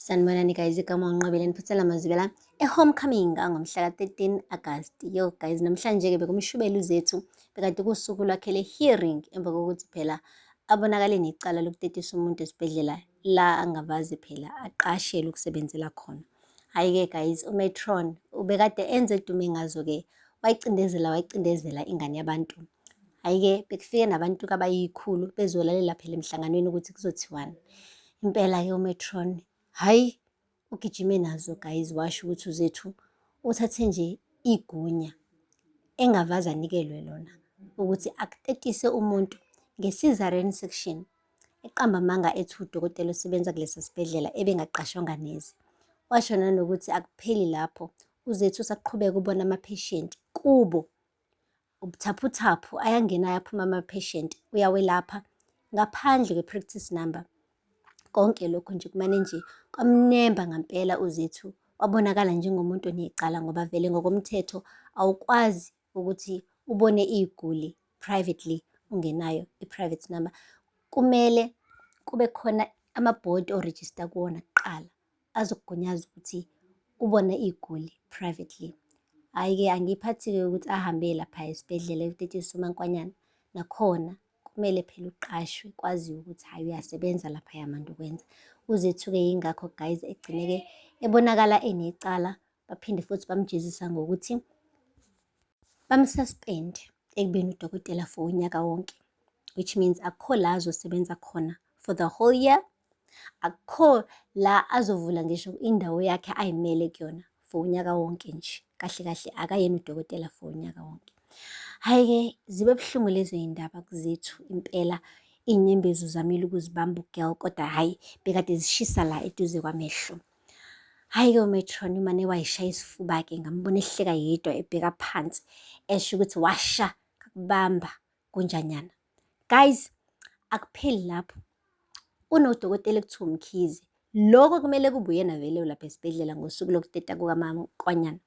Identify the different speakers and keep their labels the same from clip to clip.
Speaker 1: Sanibonani guys, igama uNqobile Niphuthela Mazibela e-homecoming angomhla ka-13 August. Yo guys, namhlanje-ke bekumshubela uZethu bekade kusuku lwakhe le-hearing emva kokuthi phela abonakale necala lokutetisa umuntu esibhedlela la angavazi phela aqashelwe ukusebenzela khona. Hhayi-ke guys, uMetron ubekade enze edume ngazo-ke wayicindezela wayicindezela ingane yabantu Hhayi-ke bekufike nabantu kabayikhulu bezolalela phela emhlanganweni ukuthi kuzothiwani. Impela-ke umetron hhayi ugijime nazo guys washo ukuthi uzethu uthathe nje igunya engavaze anikelwe lona ukuthi akutetise umuntu nge-cesarean section eqamba amanga ethi udokotela osebenza kulesi sibhedlela ebengaqashwanga neze washo nanokuthi akupheli lapho uzethu usaqhubeka ubona amapheshenti kubo ubuthaphuthaphu ayangena ayaphuma ama-patient uyawelapha ngaphandle kwe-practice number konke lokho nje kumane nje kwamnemba ngampela uzethu wabonakala njengomuntu onecala ngoba vele ngokomthetho awukwazi ukuthi ubone iy'guli privately ungenayo i-private number kumele kube khona amabhodi orejista kuwona kuqala azokugunyaza ukuthi ubona iy'guli privately. Hhayi-ke angiyiphathi-ke ukuthi ahambe lapha esibhedlela ekutetshisa umankwanyana. Nakhona kumele phela uqashwe kwaziwe ukuthi hhayi uyasebenza laphaya manje ukwenza. Uzethuke yingakho guys egcine-ke ebonakala enecala baphinde futhi bamjezisa ngokuthi bamsuspend ekubeni udokotela for unyaka wonke which means akukho la azosebenza khona for the whole year akukho la azovula ngisho indawo yakhe ayimele kuyona for unyaka wonke nje kahle kahle akayena udokotela for unyaka wonke hhayi-ke zibe buhlungu lezo yindaba kuzethu impela iy'nyembezi uzamile ukuzibamba ugirl kodwa hhayi bekade zishisa la eduze kwamehlo Hhayi-ke umetron umane wayishaya isifuba-ke ngambona ehleka yedwa ebheka phansi esho ukuthi washa kakubamba kunjanyana. Guys, akupheli lapho. Kunodokotela ekuthiwa umkhize. Lokho kumele kube uyena vele ulapha esibhedlela ngosuku lokuteta kukamamqwanyana.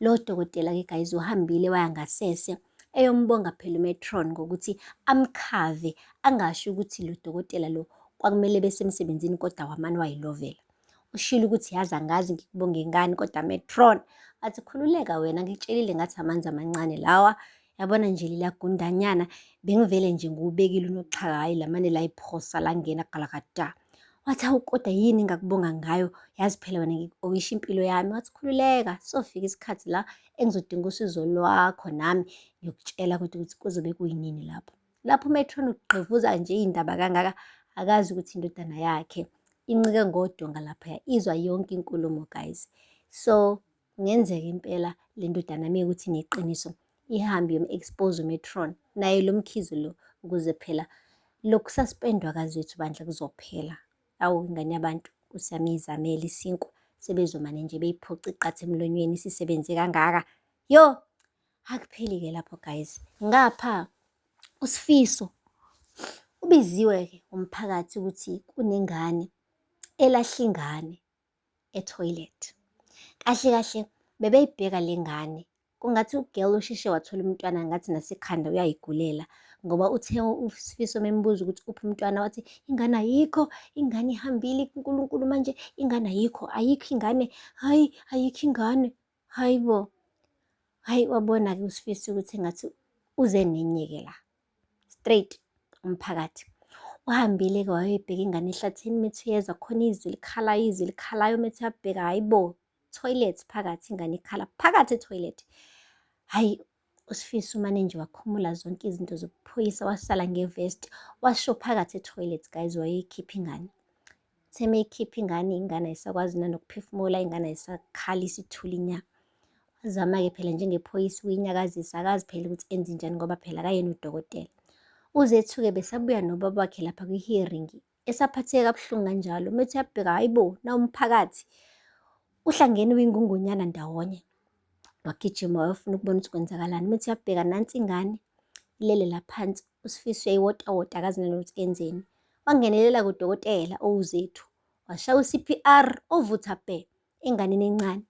Speaker 1: Lo dokotela-ke guys uhambile waya ngasese eyombonga phela umetron ngokuthi amkhave angasho ukuthi lo dokotela lo kwakumele besemsebenzini kodwa wamane wayilovela. Ushilo ukuthi yazi angazi ngikubonge ngani kodwa metron athi khululeka wena ngitshelile ngathi amanzi amancane lawa Yabona nje lila gundanyana bengivele nje ngiwubekile unoxhaka hhayi lamane layiphosa langena galakada. Wathi hawu kodwa yini engakubonga ngayo yazi phela wena ngikubongisha impilo yami. Wathi khululeka sofika isikhathi la engizodinga usizo lwakho nami ngiyokutshela ukuthi ukuthi kuzobe kuyinini lapho. Lapho umetron ugqivuza nje iy'ndaba kangaka akazi ukuthi indodana yakhe incike ngodonga laphaya izwa yonke inkulumo guys. So Kungenzeka impela le ndodana yami ukuthi neqiniso ihambe yom-expose umetron naye lo mkhizi lo ukuze phela lokhu sasipendwa kazi wethu bandla kuzophela awu ingane yabantu kusiyami izamele isinkwa sebezomane nje beyiphoca iqatha emlonyweni sisebenze kangaka yo akupheli-ke lapho guys ngapha usifiso ubiziwe-ke umphakathi ukuthi kunengane elahla ingane etoilet kahle kahle bebeyibheka le ngane kungathi ugirl usheshe wathola umntwana ngathi nasekhanda uyayigulela ngoba uthe usifiso membuza ukuthi uphi umntwana wathi ingane ayikho ingane ihambile kuNkulunkulu manje ingane ayikho ayikho ingane hayi ayikho ingane Hayi bo. Hayi wabona-ke uSifisi ukuthi engathi uze nenye-ke la. Straight umphakathi. Uhambile-ke wayebheka ingane ehlathini methi uyezwa khona izwi likhalayo izwi likhalayo methi uyabheka hayi bo. Toilet phakathi ingane ikhala phakathi etoilet. Hayi USifiso umane nje wakhumula zonke izinto zokuphoyisa wasala ngevesti washo phakathi etoilet guys wayeyikhipha ingane theme ikhipha ingane ingane ayisakwazi nanokuphefumula ingane ayisakhali isithuli nya wazama-ke phela njengephoyisa uyinyakazisa akazi phela ukuthi enze njani ngoba phela kayena udokotela uzethuke besabuya nobaba wakhe lapha kwi-hearing esaphatheka kabuhlungu kanjalo methi uyabheka hayi bo nawumphakathi uhlangene uyingungonyana ndawonye wagijima wayofuna ukubona ukuthi kwenzakalani methi uyabheka nansi ingane ilele laphansi usifiso yayewotawota akazi nanokuthi kenzeni wangenelela kudokotela owuzethu washaya u-cpr ovutha bhe enganeni encane.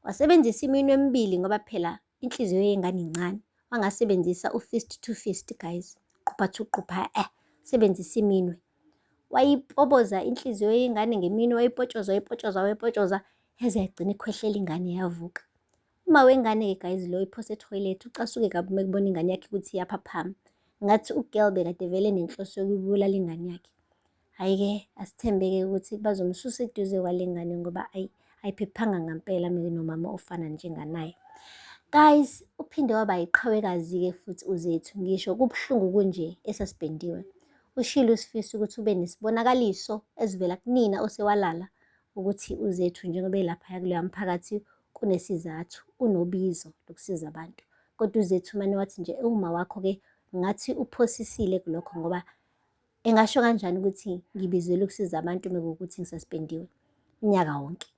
Speaker 1: Wasebenzisa iminwe emibili ngoba phela inhliziyo yengane incane. Wangasebenzisa u-fist to fist guys, qupha to qupha eh, sebenzisa iminwe. Wayipoboza inhliziyo yengane ngeminwe, wayipotshoza, wayipotshoza, wayipotshoza, yaze yagcina ikhwehlela ingane yavuka. Uma wengane-ke guys lo iphose ethoyilethi ucasuke kabi uma ekubona ingane yakhe ukuthi iyaphaphama. Ngathi ugirl bekade vele nenhloso yokubulala ingane yakhe. Hhayi-ke asithembeke ukuthi bazomsusa eduze kwale ngane ngoba ayi ayiphephanga ngampela mina nomama ofana njenganaye guys uphinde waba yiqhawekazi-ke futhi uzethu ngisho kubuhlungu kunje esasibhendiwe ushilo usifisa ukuthi ube nesibonakaliso ezivela kunina osewalala ukuthi uzethu njengoba elaphaya kuleya mphakathi kunesizathu unobizo lokusiza abantu kodwa uzethu umane wathi nje ewuma wakho-ke ngathi uphosisile kulokho ngoba Engasho kanjani ukuthi ngibizelwe ukusiza abantu mekuwukuthi ngisaspendiwe unyaka wonke?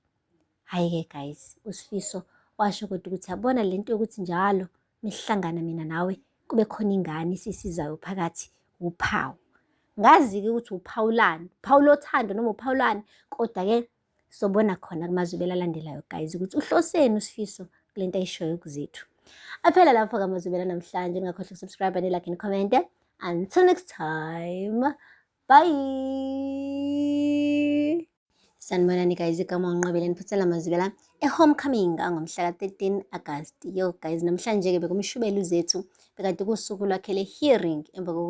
Speaker 1: Hhayi-ke guys, uSifiso washo kodwa ukuthi yabona le nto yokuthi njalo mesihlangana mina nawe kube khona ingane esisizayo phakathi wuphawu. Ngazi-ke ukuthi uphawu lani, uphawu lothando noma uphawu lani, kodwa-ke sobona khona kumazwibela alandelayo guys ukuthi uhloseni usifiso kule nto ayishoyo kuzethu aphela lapho kamazwibela namhlanje ningakhohlwa ukusubscribe nilike nikhommente until next time bye sanibonani guys igama unqobeleni phuthela mazibela e-homecoming angomhla ka-13 agasti yo guys namhlanje-ke bekumshubela uzethu bekade kuwusuku lwakhe le-hearing emva